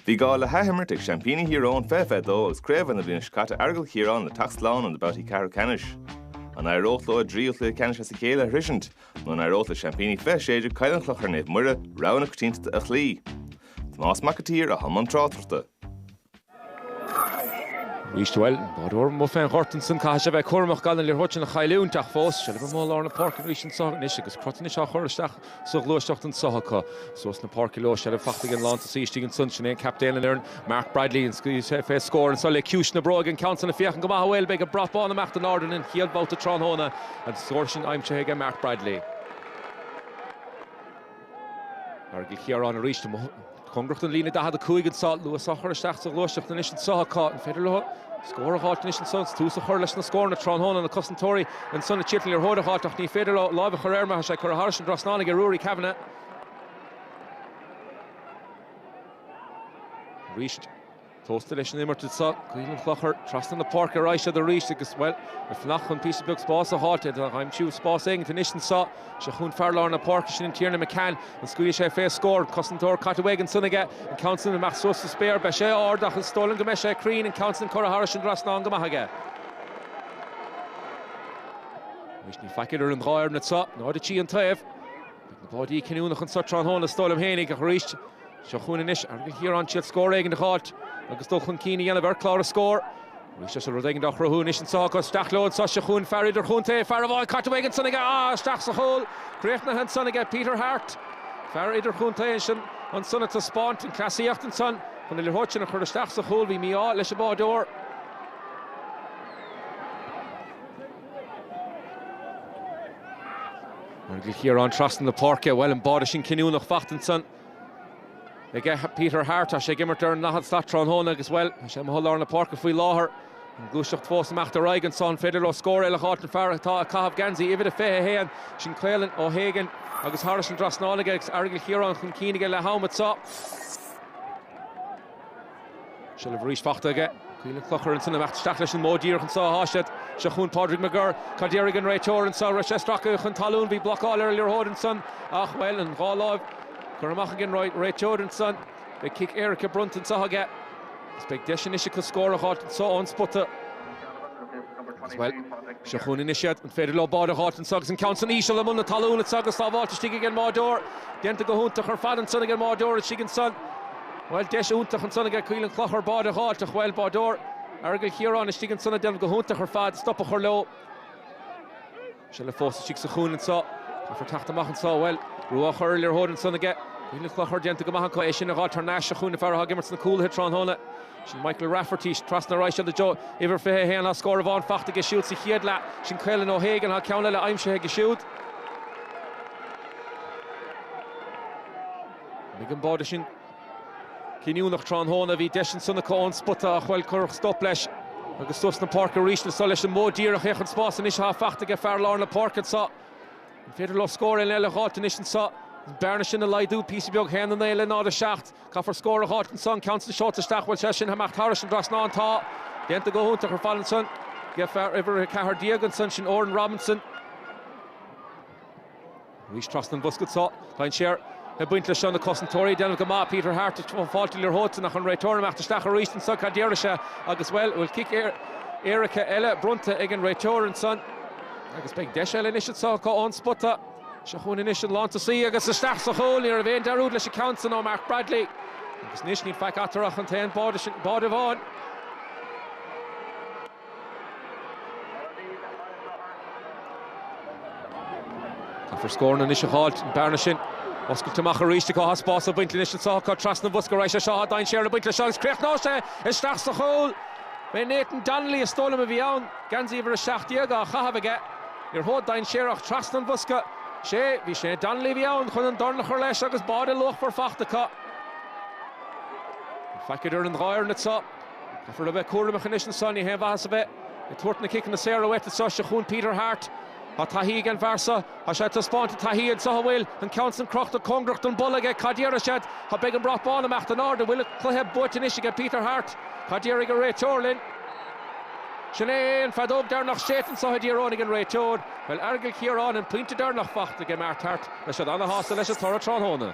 Bhí gá le hathimirt ag seaimpíní Thír Eoghain 2022 agus craobha na bliana seo caite Aireagal Chiaráin le teacht slán in na babhtaí ceathrú ceannais. An éireodh leo a dtríú chluiche ceannais as a chéile a shroisint nó an éireodh le seaimpíní 2016 Coill an Chlochair Naomh Muire rogha na coitiantachta a chloí? Tomás Mac an tSaoir atá i mbun tráchtaireachta. Arís, bhuel, báireoir mhaith fén ghort ansan, caithfidh sé bheith cúramach gan an liathróid sin a chailliúint, ach fós, seilbh amuigh i lár na páirce arís anso anois agus crot anois á chur isteach sa ghluaisteacht anso acu. Trasna na páirce leo, seilbh faighte ag an lántosaí istigh ansan, sin é an captaen an fhoireann, Mark Bradley, an scaoilfidh sé fé scór anso le ciumhais na bróige, an ceann san ag féachaint go maith, bhuel, beidh an brat bán ag imeacht in airde an chéad bhabhta tráthnóna, an scór sin aimsithe aige Mark Bradley. Aireagal Chiaráin arís. Cóngarach don líne 45 anseo. Luas á chur isteach sa ghluaiseacht anois anseo. An féidir leo scór a dh'fháilt anois anseo agus tús a chur leis na scóranna tráthnóna? Na cosantóirí anseo, na Chiarclainne, ar thóir a dh'fháilt ach ní féidir leo láimh a chur air mar tá sé ag cur thairis an dtrasnáin aige Ruairí Canavan arís. Tósta leis an imirt anseo. Coill an Chlochair trasna na páirce ar aghaidh siad arís agus, bhuel, le fanacht chun píosa beag spáis a fháilt, iad ag aimsiú spás éigin anois anseo. Seo chugainn fear lár na páirce, sin é Tiernan McCann. An scaoilfidh sé fé scór? An cosantóir caite uaidh ansan aige. An ceann san amach suas sa spéir. Beidh sé ard ach is dóigh liom go mbeidh sé cruinn. An ceann san curtha thairis an dtrasnán go maith aige. Anois níl faic idir an dhá fhoireann anseo, 0-3 an taobh. Beidh na báidí cinniúnach anseo tráthnóna is dóigh liom fhéinig, ach arís, seo chugainn anois Aireagal Chiaráin ag súil scór éigin a dh'fháilt agus dul chun cinn a dhéanamh ar chlár a scór. Arís seo rud éigin dá chruthú anois anseo acu. Isteach leo anseo, seo chugainn fear idirchontae, fear a bhfuil caite uaidh ansan aige, á, isteach sa chúl, críochnaithe ansan aige Peter Harte, fear idirchontae ansin, ansan ag taispeáint an cleasaíocht ansan chun na liathróid sin a chur isteach sa chúl, bhí mí-ádh leis an bháireoir. Aireagal Chiaráin trasna na páirce, bhuel an báide sin cinniúnach faighte ansan ag Peter Harte. Tá sé ag imirt ar an ndaichead slat tráthnóna agus, bhuel, tá sé amuigh i lár na páirce faoi láthair. An gluaiseacht fós ag imeacht ar aghaidh anso, an féidir leo scór eile a dh'fháilt an fear atá ag caitheamh geansaí uimhir a fiche a haon sin, Caolan O'Hagan, agus thairis an drasnáin aige agus Aireagal Chiaráin chun cinn aige leath am anso. Seilbh arís faighte aige Coill an Chlochair ansan, ag imeacht isteach leis an mbóthar díreach anseo a sháith siad. Seo chugainn Pádraig McGirr. Cad déarfaidh an réiteoir anseo? Raibh sé stractha chun talún, bhí blocáil ar an liathróid ansan ach, bhuel, an dhá láimh curtha amach ag an réiteoir ansan. Beidh cic éirice bronnta anseo aige agus beidh deis anois acu scór a dh'fháilt anseo ón spota. Agus, bhuel, seo chugainn anois iad. An féidir leo báide a dh'fháilt anseo agus an ceann san íseal i mbun na talún anseo agus sábháilte istigh ag an mbáideoir? Déanta go hiontach ar fad ansan ag an mbáideoir istigh ansan. Bhuel, deis iontach ansan aige Coill an Chlochair báide a dh'fháilt ach, bhuel, báideoir Aireagal Chiaráin istigh ansan ag déanamh go hiontach ar fad, stop a chur leo. Tá sé fós istigh sa chúinne anso, caithfear teacht amach anso, bhuel, brú á chur ar liathróid ansan aige Coill an Chlochair, déanta go maith acu, é sin a dh'fháilt thar n-ais sa chúinne, fear atá ag imirt sna cúlaithe tráthnóna, sin Michael Rafferty, trasna ar aghaidh seo do Joe, uimhir 21, tá scór amháin faighte aige siúd sa chéad leath, sin Caolan O'Hagan, tá ceann eile aimsithe aige siúd. Mbeidh an báide sin cinniúnach tráthnóna, bhí deis ansan acu ón spota ach bhuel cuireadh stop leis agus suas na páirce arís le Solais an Mhóid díreach féach an spás anois athá faighte aige fear lár na páirce anseo, an féidir leo scór eile eile a dh'fháilt anois anseo, an bearna sin a laghdú píosa beag haon a naoi le náid a seacht, caithfear scór a dh'fháilt anseo an ceann san seolta isteach bhuel sea sin amach thairis an dtrasnán tá déanta go hiontach ar fad ansan aige fear uimhir a ceathair déag ansan sin Oran Robinson. Arís trasna an bhosca anseo. Tá dainséar ag baint leis seo, na cosantóirí ag déanamh go maith. Peter Harte, ag fáilt na liathróide ansan ach an réiteoir ag imeacht isteach arís ansan. Cad déarfaidh sé agus, bhuel, bhfuil cic éirice eile bronnta ag an réiteoir ansan agus beidh deis eile anois anso acu ón spota. Seo chugainn anois an lántosaí agus isteach sa chúl. Ní raibh aon dearúd leis an gceann san ó Mark Bradley agus anois níl faic eatarthu ach an t-aon bháide sin, báide amháin. Caithfear scóranna anois a dh'fháilt, an bearna sin a oscailt amach arís acu. Tá spás le baint anois, anso acu trasna an bhosca arís anseo, tá dainséar ag baint leis seo agus críochnóidh sé isteach sa chúl. B'é Nathan Donnelly, is dóigh liom, a bhí ann, geansaí uimhir a seacht déag á chaitheamh aige. Liathróid dainséarach trasna an bhosca. Is é, bhí sé, Donnelly a bhí ann chun an dorn a chur leis agus báide luachmhar fachta acu. Níl faic idir an dhá fhoireann acu. Caithfear a bheith cúramach anois anso, ní haon mhaitheas a bheith ag tabhairt na ciceanna saora uait anseo. Seo chugainn Peter Harte. Tá taithí ag an bhfear seo. Tá sé ag taispeáint a thaithí anseo, an bhfuil an ceann san crochta cóngarach don bpolla aige. Cad déarfaidh siad? Tá, beidh an brat bán ag imeacht in airde. Bhfuil an cluiche buaite anois aige Peter Harte? Cad déarfaidh an réiteoir linn? Sin é an feadóg deireanach séidte anseo i dTír Eoghain ag an réiteoir. Bhuel Aireagal Chiaráin an pointe deireanach fachta aige Mark Harte. Beidh siad ana-shásta leis an toradh tráthnóna.